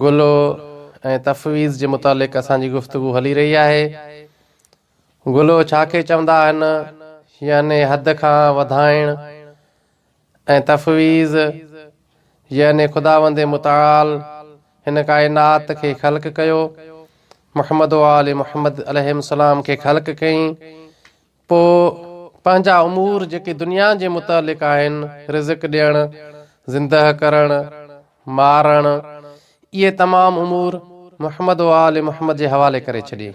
گلو ۽ تفويض جي متعلق اسان جي گفتگو هلي رهي آهي. گلو ڇا کي چوندا آهن يعني حد کان وڌائڻ ۽ تفويض يعني خداوند متعال هن ڪائنات کي خلق ڪيو، محمد وآل محمد عليهم السلام کي خلق ڪيئين، پوء پنهنجا امور جيڪي دنيا جي متعلق آهن، رزق ڏيڻ، زندهه ڪرڻ، مارڻ، اهي تمام امور محمد و آل محمد جي حوالي ڪري ڇڏي.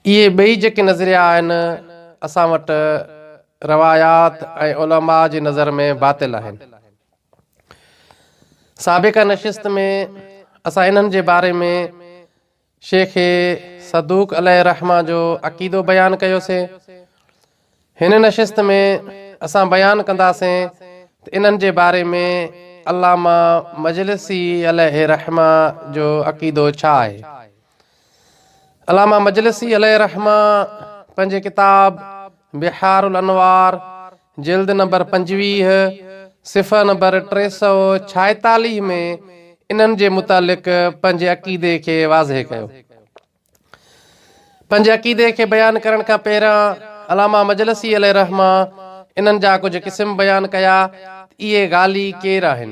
اهي ٻئي جيڪي نظريا آهن، اسان وٽ روايات ۽ علماء جي نظر ۾ باطل آهن. سابقه نشست ۾ اسان انهن جي باري ۾ شيخ صدوق عليه الرحمة جو عقيدو بيان ڪيوسين. هن نشست ۾ اسان بيان ڪنداسين ته انهن جي باري ۾ علامه مجلسي عليه الرحمة جو عقيدو ڇا آهي. علامه مجلسي عليه الرحمة پنهنجي ڪتاب بحار الانوار جلد نمبر پنجويهه، صفحه نمبر ٽي سؤ ڇائيتاليهه ۾ انهن جي متعلق پنهنجي عقيدي کي واضح ڪيو. پنهنجي عقيدي کي بيان ڪرڻ کان پهريان علامه مجلسي عليه الرحمة انهن جا ڪجهه قسم بيان ڪيا ته اهي غالي ڪير آهن؟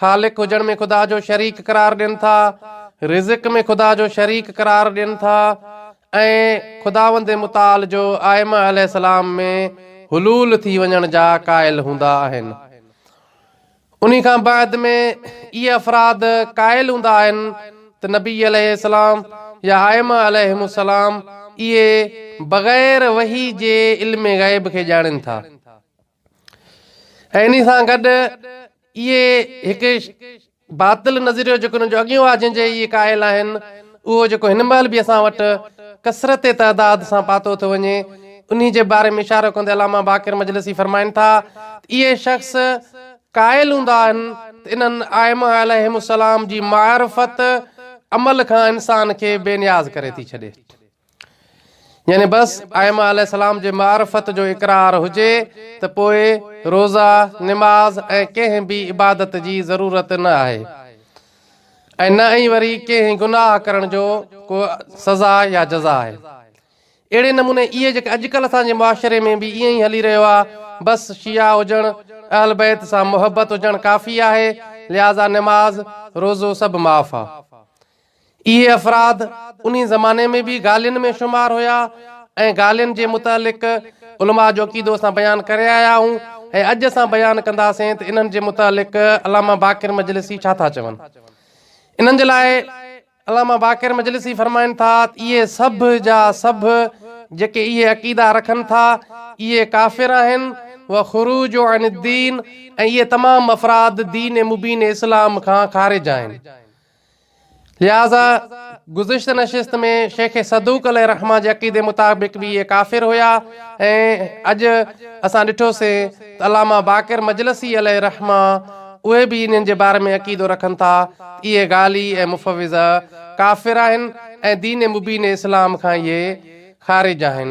خالق هجڻ ۾ خدا جو شريڪ قرار ڏين ٿا، رزق ۾ خدا جو شريڪ قرار ڏين ٿا ۽ خداوند متعال جو آئمه عليه السلام ۾ حلول ٿي وڃڻ جا قائل هوندا آهن. انهي کان بعد ۾ اهي افراد قائل هوندا آهن ته نبي عليه السلام يا آئمه عليهم السلام اهي بغير وحي جي علم غيب کي ڄاڻين ٿا. ۽ انهي سان گڏ اهي هڪ باطل نظريو جيڪو انهن جو اڳيون آ جنهن جي اهي قائل آهن اهو جيڪو هن مهل به اسان وٽ ڪثرت تعداد سان پاتو ٿو وڃي انهي جي باري ۾ اشارو ڪندي علامه باقر مجلسي فرمائن ٿا ته اهي شخص قائل هوندا آهن ته انهن آئمه عليهم السلام جي معرفت عمل کان انسان کي بي نياز ڪري ٿي ڇڏي. يعني بس ائمه عليه السلام جي معرفت جو اقرار هجي ته پوء روزه، نماز ۽ ڪنهن به عبادت جي ضرورت نه آهي ۽ نه ئي وري ڪنهن گناهه ڪرڻ جو ڪو سزا يا جزا آهي. اهڙي نموني اهي جيڪي اڄڪلهه اسان جي معاشري ۾ به ائين ئي هلي رهيو آهي بس شيعا هجڻ، اهل بيت سان محبت هجڻ ڪافي آهي لهٰذا نماز، روزو سڀ معاف آهي. اهي افراد انهي زماني ۾ به غالين ۾ شمار هيا ۽ غالين جي متعلق علماء جو عقيدو اسان بيان ڪري آيا آهون ۽ اڄ اسان بيان ڪنداسين ته انهن جي متعلق علامه باقر مجلسي ڇا ٿا چون. انهن جي لاء علامه باقر مجلسي فرمائن ٿا ته اهي سڀ جا سڀ جيڪي اهي عقيدا رکن ٿا اهي ڪافر آهن و خروج عن الدين ۽ اهي تمام افراد دين مبين اسلام کان خارج آهن لهٰذا گذشته نشست ۾ شيخ صدوق عليه الرحمة جي عقيدي مطابق به اهي ڪافر هيا ۽ اڄ اسان ڏٺوسين ته علامه باقر مجلسي عليه الرحمة اهي به انهن جي باري ۾ عقيدو رکن ٿا ته اهي غالي ۽ مفوضه ڪافر آهن ۽ دين مبين اسلام کان اهي خارج آهن.